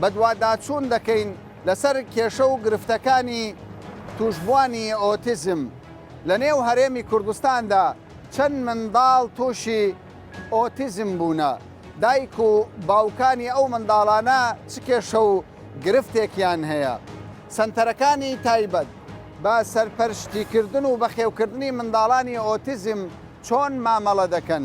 بەدواداچوون دەکەین لەسەر کێشە و گرفتەکانی تووشبووانی ئۆتیزم لە نێو هەرێمی کوردستاندا، چەند منداڵ تووشی ئۆتیزم بوونە، دایک و باوکانی ئەو منداڵانە چ کێشە و گرفتێکیان هەیە. سەنتەرەکانی تایبەت بە سەرپەرشتیکردن و بەخێوکردنی منداڵانی ئۆتیزم چۆن مامەڵە دەکەن؟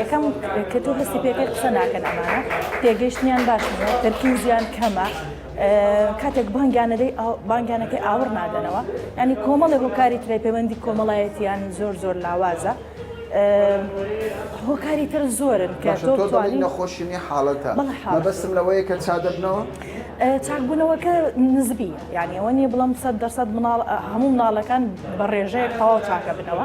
یەکەم کە تۆ هەستی پێکرد قسە ناکەن ئەمانە پێگەشتیان باش تەرکیزیان کەمە کاتێک بانگیانەدەی بانگیانەکەی ئاوڕ نادەنەوە ینی کۆمەڵی هۆکاری ترای پەیوەندی کۆمەڵایەتیان زۆر زۆر لاوازە هۆکاری تر زۆرن کە نەخۆشیی حاڵەتە بەسم لەوەیە کە چادەبنەوە چاکبوونەوەکە نزبی یانیەوە نیە بڵام سەد دەسەد مناڵ هەموو مناڵەکان بە ڕێژەیە تەواو چاکە بنەوە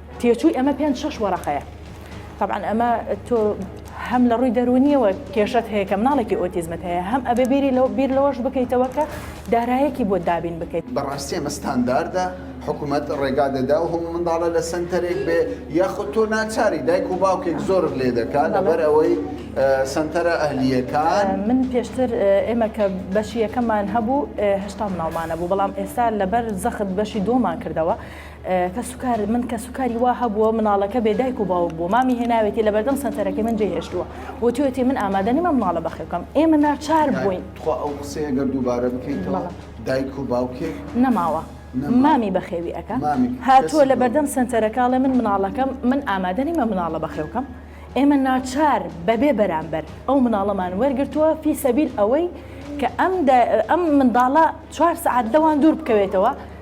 تێچووی ئەمە پێنج شەش وەرەقەیە طبعا ئەمە تۆ هەم لە ڕووی دەرونیەوە کێشت هەیە کە مناڵێکی ئۆتیزمت هەیە هەم ئەبێ بیری لەو بیر لەوەش بکەیتەوە کە دارایەکی بۆ دابین بکەیت بەڕاستی ئەمە ستانداردە حکوومەت ڕێگا دەدا و هەموو منداڵە لە سنتەرێک بێ یاخود تۆ ناچاری دایک و باوکێک زۆرت لێ دەکات لەبەر ئەوەی سنتەرە ئەهلیەکان من پێشتر ئێمە کە بەشی یەکەمان هەبوو هشتا مناڵمانە بوو بەڵام ئێستا لەبەر زەخت بەشی دۆمان کردەوە کەسوکار، من کەسوکاری وا هەبووە مناڵەکە بێ دایک و باوک بووە، مامی هێناوێتی لە بەردەم سەنتەرەکەی من جێ هێشتووە و وتوویەتی من ئامادە نیم ئەم مناڵە بەخێو بکەم، ئێمە ناچار بووین. تخوا ئەو قسەیە گەر دووبارە بکەیتەوە، دایک و باوکێک. نەماوە، مامی بەخێوی ئەکا، هاتووە لە بەردەم سەنتەرەکە ئەڵێ من مناڵەکەم، من ئامادە نیم ئەم مناڵە بەخێو بکەم، ئێمە ناچار بەبێ بەرامبەر ئەو مناڵەمان وەرگرتووە فی سەبیل ئەوەی کە ئەم منداڵە چوار سەعات لەوان دوور بکەوێتەوە،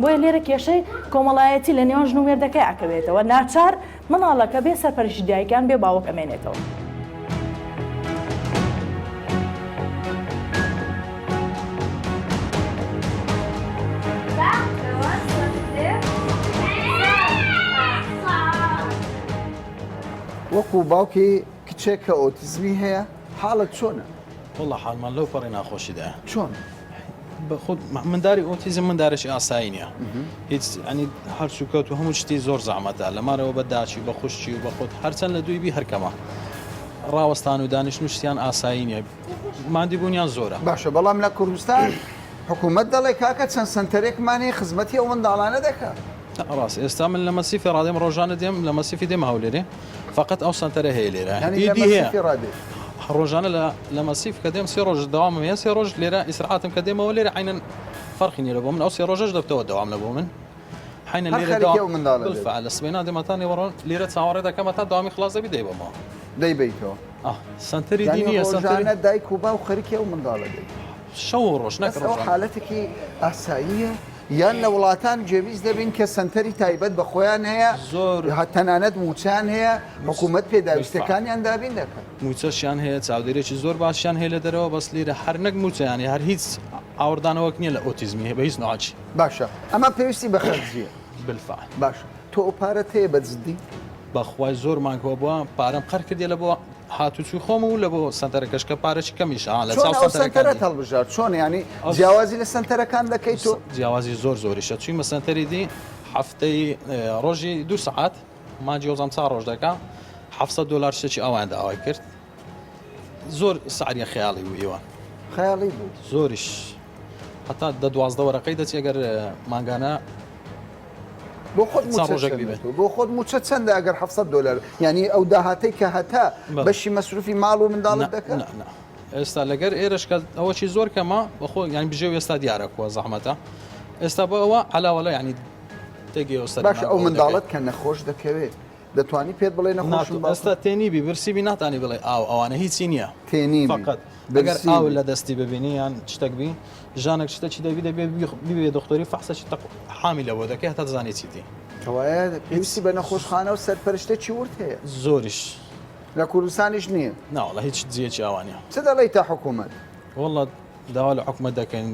بۆیە لێرە کێشەی کۆمەڵایەتی لە نێوان ژن و مێردەکە یاکەوێتەوە ناچار منداڵەکە بێ سەرپەرشی دایکیان بێ باوک ئەمێنێتەوە. وەکو باوکی کچێک کە ئۆتیزمی هەیە حاڵت چۆنە؟ وەڵا حاڵمان لەو پەڕی ناخۆشیدایە. چۆن؟ بەخود منداری ئۆتیزم مندارێکی ئاسایی نیە هیچ ئەنی هەرچووکەوت و هەموو شتی زۆر زەحمەتە لەمارەوە بە داچی بە خوشتی و بەخود هەرچەند لە دووی بی هەرکەمە ڕاوەستان و دانیش نووسیان ئاسایی نیە مادی بوونیان زۆرە باشە بەڵام لە کوردستان حکوومەت دەڵێ کاکە چەند سنتەرێکمانی خزمەتی ئەو منداڵانە دەکە. ڕاست ئێستا من لە مەسیفی ڕادێم ڕۆژانە دێم لە مەسیفی دێمە هەولێرێ فقط ئەو سەنتەرە هەیە لێرە ڕۆژانە لە مەسیف کە دێم سێ ڕۆژ داوام هەیە سێ ڕۆژ لێرە ئیسرعاتم کە دێمەوە لێرە عینەن فەرخی نیرە بۆ من ئەو سێ ڕۆژەش دەبتەوە داوام لە بۆ من حینە لێرە منداڵ لە سبێنا دێمەتان نێوەڕۆن لێرە چاوەڕێ دەکەمە تا داوامی خلاص دەبی دەیبەمەوە دەیبیتەوە سنتەری دینیە سەنتەرە دایک و باو خەرکی ئەو منداڵە دەبی شەو ڕۆژ نەکڕ حالەتێکی ئاساییە یان لە وڵاتان جێویست دەبین کە سەنتەری تایبەت بە خۆیان هەیە، تەنانەت مووچەیان هەیە، حکوومەت پێداویستییەکانیان دابین دەکات. مووچەشیان هەیە، چاودێریی زۆر باشیان هەیە لە دەرەوە، بەس لێرە هەر نەک مووچە، یانی هەر هیچ ئاوڕدانەوەک نییە لە ئۆتیزمی بە هیچ نەوعەکی. باشە، ئەمە پێویستی بە خەرجییە. بالفعل. باشە، تۆ ئەو پارەت هەیە بە جددی؟ بەخوای زۆر مانگ هەبووە، پارەم قەرز کردییە لە بۆ. هاتوچوی خۆم و لەبۆ سەنتەرەکەش کە پارەکی کەمیشە ها لەچاو سەنتەرەکان دێ. چۆن ئەو سەنتەرەت هەڵبژارد چۆن یانی جیاوازی لە سەنتەرەکان دەکەی تۆ؟ جیاوازی زۆر زۆریشە چویمە سەنتەری دی هەفتەی ڕۆژی دوو سەعات مانجی وەزم چا ڕۆژ دەکا حەفت سەد دۆلار شتێکی ئاوایان داوای کرد زۆر سعریە خەیاڵی بوو ئیوە خەیاڵی بوو زۆریش هەتا دە دوازدە وەرەقەی دەچێ گەر مانگانە بۆ خۆت چەند ڕۆژێک بیبەن بۆ خۆت موچە چەندە ئەگەر 700 دلار یعنی ئەو داهاتەی کە هەتا بەشی مەسروفی ماڵ و منداڵت دەکەن ئێستا لەگەر ئێرشکە ئەوەی زۆر کەمە بەخۆ یان بژێ ئێستا دیارە کووە زەحمەتە ئێستا بۆ ئەوە علاوەڵە ینی تێگەێوسەر باش ئەو منداڵت کە نەخۆش دەکەوێت دەتوانی پێت بڵێ نەخۆشم ناتو ئێستا تێنیبی برسیبی ناتانی بڵێ ئاو ئەوانە هیچی نییە تێنیم فقط ئەگەر برسیمی. ئاو لە دەستی ببینی یان شتەک بی ژانێک شتەکی دەبی دەبێ بیخ- ببێ دکتۆری فەحسەکی تەق حامی لەوە دەکەی هەتا دەزانی چیتی کەوایە پێویستی بە نەخۆشخانە و سەرپەرشتێکی ورد هەیە زۆریش لە کوردستانیش نییە ناوەڵا هیچ جیەکی ئاوا نیە چ دەڵێیتە حکومەت؟ وەڵا داوا لە حکومەت دەکەین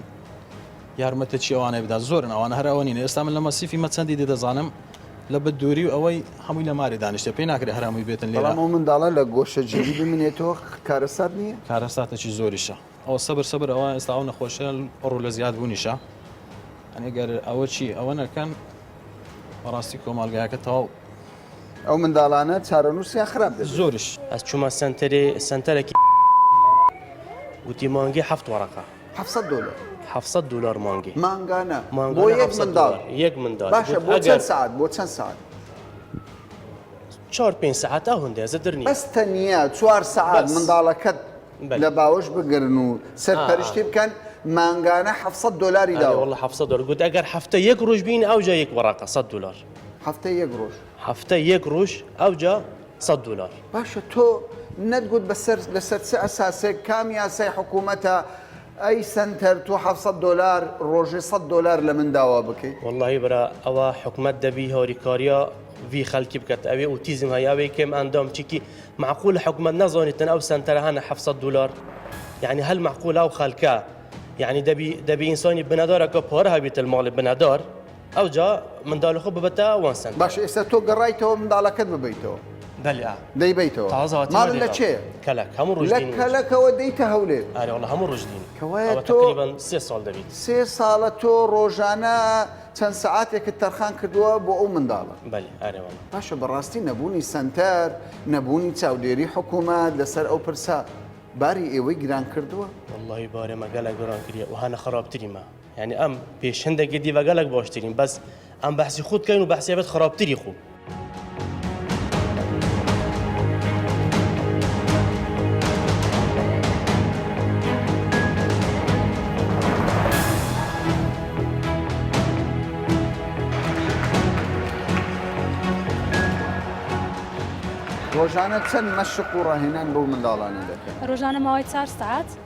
یارمەتەچی ئەوانەی بدا زۆرن ئەوان هەر ئەوە نین ئێستا من لە مەسیفی مەچەندی دێ دەزانم لە بە دووری و ئەوەی هەمووی لە ماری دانیشتە پێی ناکرێت هەرمووی بێتن لێ بەڵام ئەو منداڵە لە گۆشەگیری بمنێتەوە کارەسات نییە کارەساتەکی زۆریشە ئەو سەبر سەبر ئەوە ئێستا ئەو نەخۆشە ڕوو لە زیاد بوونیشە ئەنێگەر ئەوە چی ئەوە نەکەن بەڕاستی کۆمەلگایەکە تەواو ئەو منداڵانە چارەنووسیان خراپ دەبێت. زۆرش ئەس چوومە سەنتەرێ سەنتەرەکی وتی مانگی حەفت وەڕەقە. حەفت سەد دۆلار. حەفت سەد دۆلار مانگی. مانگانە. مانگانە بۆ یەک منداڵ. یەک منداڵ. باشە بۆ چەند سەعات بۆ چەند سەعات؟ چوار پێنج سەعات ئەوەندە زەدر نییە. بەس تەنیا چوار سەعات منداڵەکەت لە باوەش بگرن و سەرپەرشتی بکەن مانگانە حەفت سەد دۆلاری داوە. وەڵڵا حەفت سەد دۆلار گوت ئەگەر هەفتە یەک ڕۆژ بین ئەوجا یەک وەڕەقە سەد دۆلار. هەفتەی یەک ڕۆژ. هەفتەی یەک ڕوژ ئەوجا سەد دولار. باشە تۆ نەت گوت بەسەر لەسەر چ ئەساسێک کام یاسای حکومەتە ئەی سەنتەر تۆ حەڤ سەد دولار ڕۆژێ سەد دولار لەمن داوا بکەی. وەڵاهی برا ئەوە حکومەت دەبی هاریکاریا ڤی خەلکی بکەت ئەوێ ئوتیزم هەی ئەوێ کێم ئەندام چیکی معقولە حکومەت نەزانیتن ئەو سەنتەرە هەنە حەڤ سەد دولار یعنی هەل معقولە ئەو خەلکە یعنی دەبی دەبی ئینسانی بنەدارەکە پارە هەبیتە ماڵی بنەدار ئەوجا منداڵی خۆ ببەتە وان سەنتەر. باشە ئێستا تۆ گەڕایتەوە منداڵەکەت ببەیتەوە؟ بەلی ئا. دەیبەیتەوە؟ تازە هاتم ماڵ لە چێ؟ کەلەک هەموو ڕۆژ دێنی. لە کەلەکەوە دێیتە هەولێر؟ ئەرێ وەڵا هەموو ڕۆژ دێنی. کەوایە تۆ تەقریبەن سێ ساڵ دەبیت. سێ ساڵە تۆ ڕۆژانە چەند سەعاتێکت تەرخان کردووە بۆ ئەو منداڵە؟ بەلی ئەرێ وەڵا. باشە بەڕاستی نەبوونی سەنتەر، نەبوونی چاودێری حکوومەت لەسەر ئەو پرسە باری ئێوەی گران کردووە؟ وەڵاهی بارێ مە گەلەک گۆران کریە و هەنە خەڕابتری مە. یانی ئەم پێش هەندێک گردی بەگەلک باشترین بەس ئەم بەحسی خود کەین و بەحسێ بێت خراپتری خو ڕۆژانە چەند مەشق و ڕاهێنان بۆ منداڵانی دەکەن ڕۆژانە ماوەی چار سعات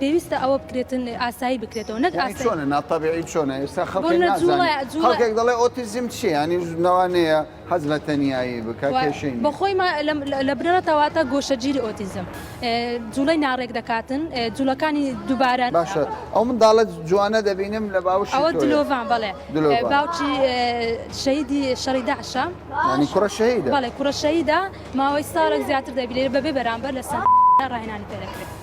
پێویستە ئەوە بکرێتن ئاسایی بکرێتەوە نەک ئاسایی چۆنە ناتەبیعی چۆنە ئێستا خەڵکێک نازانێ خەڵکێک دەڵێ ئۆتیزم چییە یانی نەوانەیە حەز لە تەنیایی بکە کێشەی نییە بەخۆی لە بنەڕەتەوە تا گۆشەگیری ئۆتیزم جوڵەی ناڕێک دەکاتن جوڵەکانی دووبارە باشە ئەو منداڵە جوانە دەبینم لە باوش ئەوە دلۆڤان بەڵێ دلۆڤان. باوکی شەیدی شەڕی داعشە یانی کوڕە شەهیدە بەڵێ کوڕە شەهیدە ماوەی ساڵێک زیاتر دەبیرێ بەبێ بەرامبەر لەسەر ڕاهێنانی پێ دەکرێت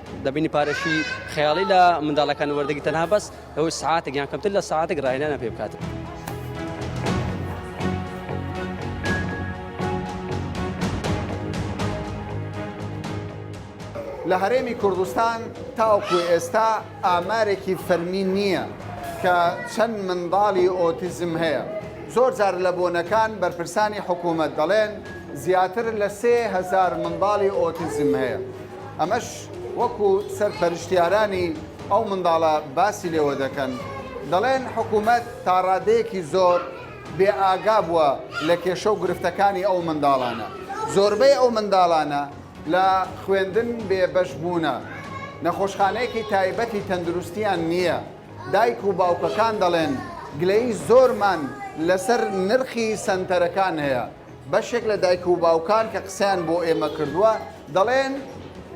دەبینی پارەشی خەیاڵی لە منداڵەکان وەردەگی تەنها بەس ئەوەی سعاتێک یان کەمتر لە سعاتێک ڕایەنە پێ بکات. لە هەرێمی کوردستان تاوکو ئێستا ئامارێکی فەرمی نییە کە چەند منداڵی ئۆتیزم هەیە زۆر جار لە بۆنەکان بەرپرسانی حکوومەت دەڵێن زیاتر لە سێهزار منداڵی ئۆتیزم هەیە ئەمەش وەکو سەرپەرشتیارانی ئەو منداڵە باسی لێوە دەکەن، دەڵێن حکوومەت تاڕادەیەکی زۆر بێ ئاگا بووە لە کێشە و گرفتەکانی ئەو منداڵانە، زۆربەی ئەو منداڵانە لە خوێندن بێ بەش بوونە، نەخۆشخانەیەکی تایبەتی تەندروستیان نییە، دایک و باوکەکان دەڵێن گلەیی زۆرمان لەسەر نرخی سەنتەرەکان هەیە. بەشێک لە دایک و باوکان کە قسەیان بۆ ئێمە کردووە دەڵێن،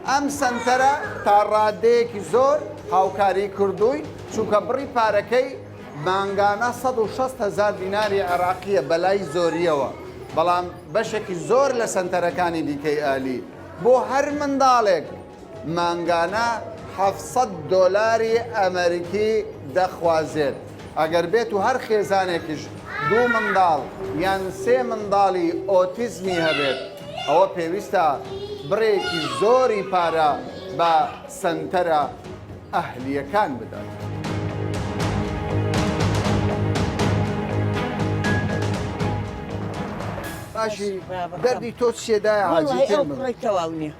ئەم سەنتەرە تا ڕاددەیەکی زۆر هاوکاریی کردووین، چونکە بڕی پارەکەی مانگانە سەد و شەست هەزار دیناری عێراقییە بەلای زۆرییەوە، بەڵام بەشێکی زۆر لە سەنتەرەکانی دیکەی ئەهلی بۆ هەر منداڵێک، مانگانە حەفت سەد دۆلاری ئەمەریکی دەخوازێت، ئەگەر بێت و هەر خێزانێکیش دوو منداڵ یان سێ منداڵی ئۆتیزمی هەبێت، ئەوە پێویستە بڕێکی زۆری پارە بە سەنتەرە ئەهلییەکان بدات. باشی دەردی تۆ چیە دایە حاجی؟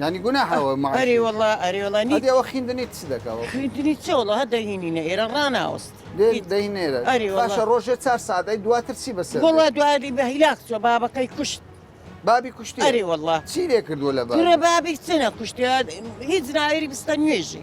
یانی گوناحە ئەوە معاشی ئەرێ وەڵا ئەرێ وەڵا نی هەدی ئەوە خیندنی چ دەکا وەڵا خیندنی چ وەڵا هە دەهینینە ئێرە ڕاناوەست دێ هیچ دەی نێرە ئەرێ وەڵا باشە ڕۆژێ چار سەعات ئەی دواتر چی بەسەر دێ؟ وەڵا دوایی بە هیلاک چوە بابەکەی کوشت بابی کوشتێ ئەرێ وەڵا چی لێ کردووە لە کوڕە بابی بابی چ نەکوشتێ هیچ ناوێری بستە نوێژی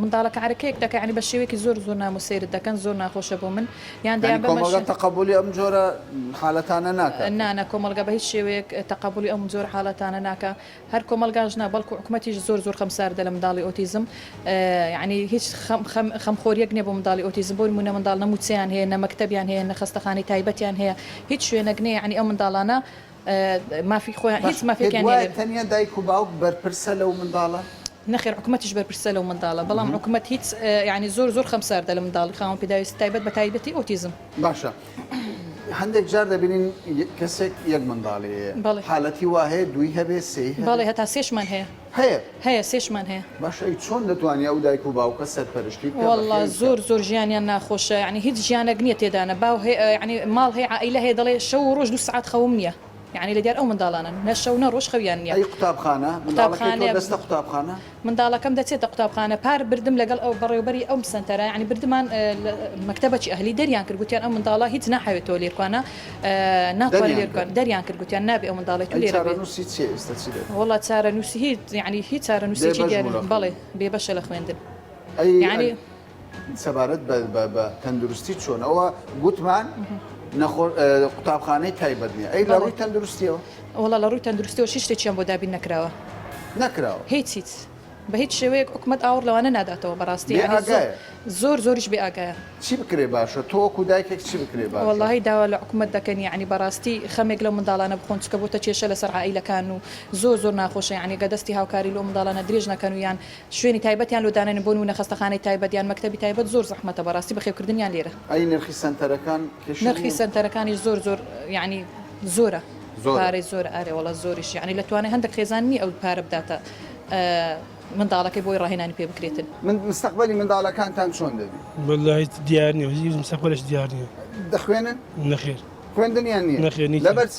منداڵەکە عەرەکەیەک دەکا یانی بە شێوەیەکی زۆر زۆر نامۆ سەیرت دەکەن زۆر ناخۆشە بۆ من یان دەیان بە کۆمەڵگە تەقەبولی ئەم جۆرە حالەتانە ناکات نا نا کۆمەڵگە بە هیچ شێوەیەک تەقەبولی ئەم جۆر حالەتانە ناکا هەر کۆمەڵگاش نا بەڵکو حکومەتیش زۆر زۆر خەمساردە لە منداڵی ئۆتیزم یانی هیچ خەم خەم خەمخۆریەک نیە بۆ منداڵی ئۆتیزم بۆ نمونە منداڵ نە موچەیان هەیە نە مەکتەبیان هەیە نە خەستەخانەی تایبەتیان هەیە هیچ شوێنەک نیە یانی ئەو منداڵانە مافی خۆیان هیچ مافێکیان نیە تەنیا دایک و باوک بەرپرسە لەو منداڵە نەخێر حکومەتیش بەرپرسە لەو منداڵە بەڵام حکومەت هیچ یانی زۆر زۆر خەمساردە لە منداڵی خاوەن پێداویستی تایبەت بە تایبەتی ئۆتیزم. باشە هەندێک جار دەبینین کەسێک یەک منداڵی هەیە حالەتی وا هەیە دووی هەبێ سێی هەبێ؟ بەڵێ هەتا سێشمان هەیە هەیە هەیە سێشمان هەیە. باشە ئەی چۆن دەتوانێ ئەو دایک و باوکە سەرپەرشتی بکا بە خێوی بکا؟ وەڵا زۆر زۆر ژیانیان ناخۆشە یانی هیچ ژیانەک نییە تێدا نە باو هەیە یانی ماڵ هەیە عائیلە هەیە دەڵێ شەو و ڕۆژ دوو سەعات خەوم نییە. یەعنی لە دیار ئەو منداڵانەن نە شەو نە ڕۆژ خەویان نیە. ئەی قوتابخانە؟ منداڵەکەی تۆ دەستە قوتابخانە؟ منداڵەکەم دەچێتە قوتابخانە پار بردم لەگەڵ ئەو بەڕێوبەری ئەو سەنتەرە یەعنی بردمان مەکتەبەکی ئەهلی دەریان کرد گوتیان ئەم منداڵە هیچ ناحەوێ تۆ لێرکوانە ناتوانێ لێرکوان دەریان کرد گوتیان نابێ ئەو منداڵی تو لێرە بێ. چارەنوسی چیە ئیستە چی دەکەی؟ وەڵا چارەنوسی هیچ یەعنی هیچ چارەنوسێکی دیار نی بەڵێ بێ بەشە لە خوێندن یەعنی. سەبارەت بە تەندروستی چۆن ئەوە گوتمان قوتابخانەی تایبەت نیە ئەی لە ڕووی تەندروستیەوە وڵا لە ڕووی تەندروستیەوە شی شتێکیان بۆ دابین نەکراوە نەکراوە هیچ هیچ بە هیچ شێوەیەک حکومت ئاوڕ لەوانە ناداتەوە بەڕاستی زۆر زۆریش بێ ئاگایە چی بکرێ باشە تۆکو دایکێک چی بکرێ بەڵی داوا لە حکومت دەکەن ینی بەڕاستی خەمێک لە منداڵانە بخۆن چکە بۆتە کێشە لەسەر عیلەکان و زۆر زۆر ناخۆشە ینی گە دەستی هاوکاری لۆ منداڵانە درێژ نەکەن و یان شوێنی تایبەتیان لۆ دانێن بۆ نموونە خەستەخانەی تایبەت یان مەکتەبی تایبەت زۆر زەحمەتە بەڕاستی بەخێوکردنیان لێرە. ئەی نرخی سەنتەرەکان کێشە نیە؟ نرخی سەنتەرەکانیش زۆر زۆر یانی زۆرە پارەی زۆرە ئارێ وەڵا زۆریش یانی لە توانای هەندەک خێزان نیە ئەو پارە بداتە منداڵەکەی بۆی ڕاهێنانی پێ بکرێتن. مستەقبەلی منداڵەکانتان چۆن دەبی؟ وەللە هیچ دیار نیە هیچ مستەقبەلێکی دیار نیە. دەخوێنن؟ نەخێر. خوێندنیان نیە؟ نەخێر نیە. لەبەر چ؟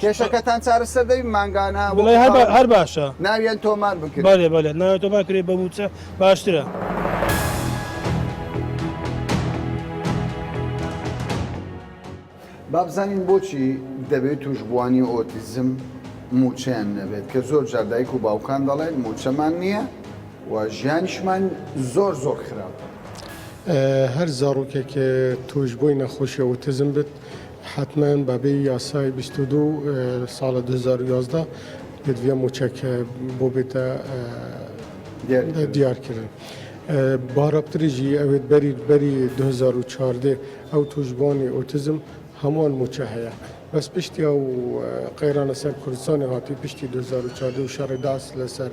کێشەکەتان چارەسەر دەبی مانگانە بڵێ هەر با- هەر باشە ناویان تۆمار بکرێت بەێ بەێ ناوێ تۆ باکرێ بە موچە باشترە بابزانین بۆچی دەبێت توشبووانی ئۆتیزم موچەیان نەبێت کە زۆر جار دایک و باوکان دەڵێن موچەمان نییە و ژیانیشمان زۆر زۆر خراپ هەر زاڕوکێک توش بووی نەخۆشی ئۆتزم بێت حەتمەن بە بێ یاسای بیست و دوو ساڵە دوو هەزار و یازدە پێدڤە موچەک بۆ بێتە دیارکردن. با رابتریژی ئەوێت بەری بەری دوو هەزار و چواردە ئەو توشبوانی ئۆتیزم هەمووان موچە هەیە. بەس پشتی ئەو قەیرانە سەر کوردستانی هاتی پشتی دوو هەزار و چواردە و شەڕی داعس لەسەر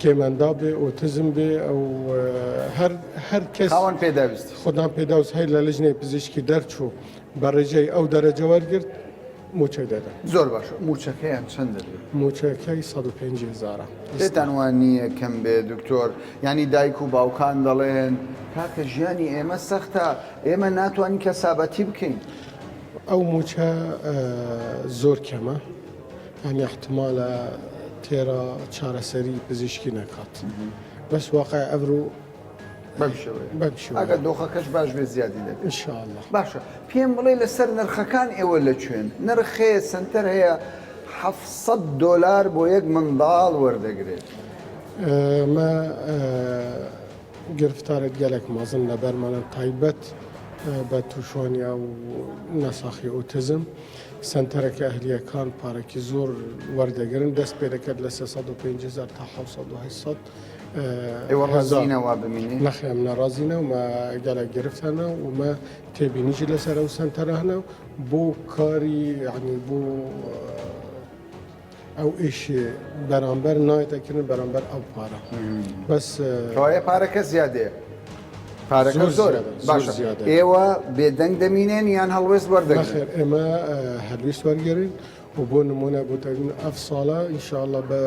کێمەنداو بێ ئۆتزم بێ ئەو هەر هەر کەس خاوەن پێداویست خوددان پێداوس هەیە لە لژنەی پزیشکی دەرچوو بە ڕێژەی ئەو دەرەجە وەرگرت موچەی دەدا زۆر باش موچەکەیان چەند دەبێت موچەکەی 105 هزارە پێتان وان نییە کەم بێ دکتۆر ینی دایک و باوکان دەڵێن کاکە ژیانی ئێمە سەختە ئێمە ناتوانین کەسابەتی بکەین ئەو موچە زۆر کەمە یانی احتمالە تێرا چارەسەری پزیشکی نەکات بەس واقع ئەبرو ئەگەر دۆخەکەش باش بێ زیادی دە انشاءله باشە پێم بڵێ لەسەر نرخەکان ئێوە لە کوێن نرخێ سنتەر هەیە 700 دلار بۆ یەک منداڵ وەردەگرێت مە گرفتارێت گەلێک مازن لە بەرمانە تایبەت بە تووشانی ئەو نەساخی ئۆتزم سەنتەرەکە ئەهلییەکان پارەکی زۆر وەردەگرن دەست پێ دەکات لە 350 تا 700ەوە بمین نەخێم ناڕازینە و گەلە گرفتانە ومە تێبینیجی لەسەر ئەو سەنتەرانە بۆ کاری عنی بوو ئەو ئیش بەرامبەر نایتە کردن بەرامبەر ئەو پارە بەس کەوایە پارەکە زیادێ پارەکە زۆرە باشە ئێوە بێدەنگ دەمینێن یان هەڵوێست وەردەخێر ئێمە هەلویست وەرگێرین و بۆ نمونە بۆتەن ئەف ساڵە ئینشاءڵە بە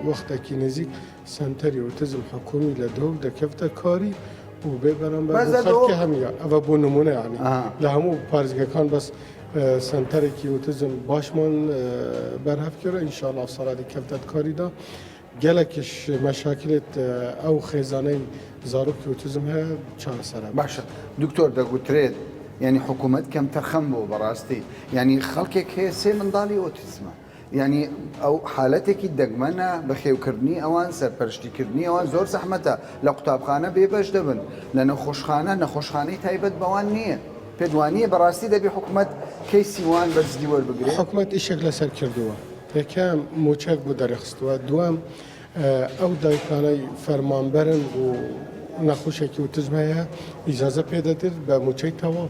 وەختێکی نزیک سەنتەری ئۆتیزم حکومی لە دهۆک دەکەفتە کاری و بێ بەرامبەر بۆ خەڵکی هەمیا ئەوە بۆ نمونە یانی لە هەموو پارێزگەکان بەس سەنتەرێکی ئۆتیزم باشمان بەرهەفکێرە ئینشاءاللە سەڵاتی کەفتەت کاریدا گەلەکیش مەشاکلێت ئەو خێزانەی زارۆکی ئۆتیزم هەیە چارەسەرە باشە دکتۆر دەگوترێت ینی حکوومەت کەم تەرخەم بۆ بەڕاستی ینی خەڵکێک هەیە سێ منداڵی ئۆتیزمە یانی ئەو حالەتێکی دەگمەنە بەخێوکردنی ئەوان سەرپەرشتی کردنی ئەوان زۆر زەحمەتە لە قوتابخانە بێ بەش دەبن لە نەخۆشخانە نەخۆشخانەی تایبەت بەوان نییە پێت وانییە بەڕاستی دەبێ حکومەت کەیسی وان بەجدی وەربگرێ؟ حکومەت ئیشێک لەسەر کردووە یەکەم مووچەک بۆ دەرخستووە دووەم ئەو دایکانەی فەرمانبەرن و نەخۆشێکی وتزم هەیە ئیجازە پێدەدرێت بە مووچەی تەواو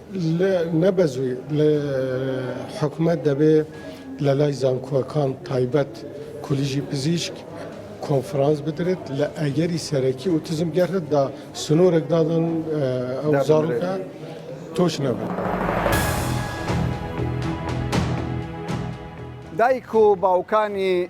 نەبەزوی لە حکومەت دەبێ لە لای زانکۆکان تایبەت کولیژی پزیشک کۆنفرانس بدرێت لە ئەگەری سەرەکی ئوتزم گەرتدا سنوورێک دادن ئەو زارەکە تۆش نەبێت. دایک و باوکانی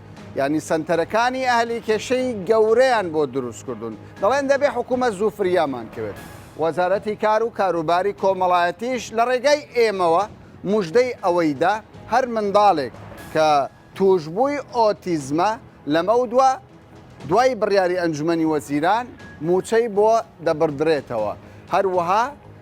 یانی سەنتەرەکانی ئەهلی کێشەی گەورەیان بۆ دروست کردوون دەڵێن دەبێ حکوومەت زوو فریامان کەوێت وەزارەتی کار و کاروباری کۆمەڵایەتیش لە ڕێگای ئێمەوە مژدەی ئەوەیدا هەر منداڵێک کە توشببووی ئۆتیزمە لەمەو دووە دوای بڕیاری ئەنجومی وەزیران موچەی بۆ دەبڕدرێتەوە هەروەها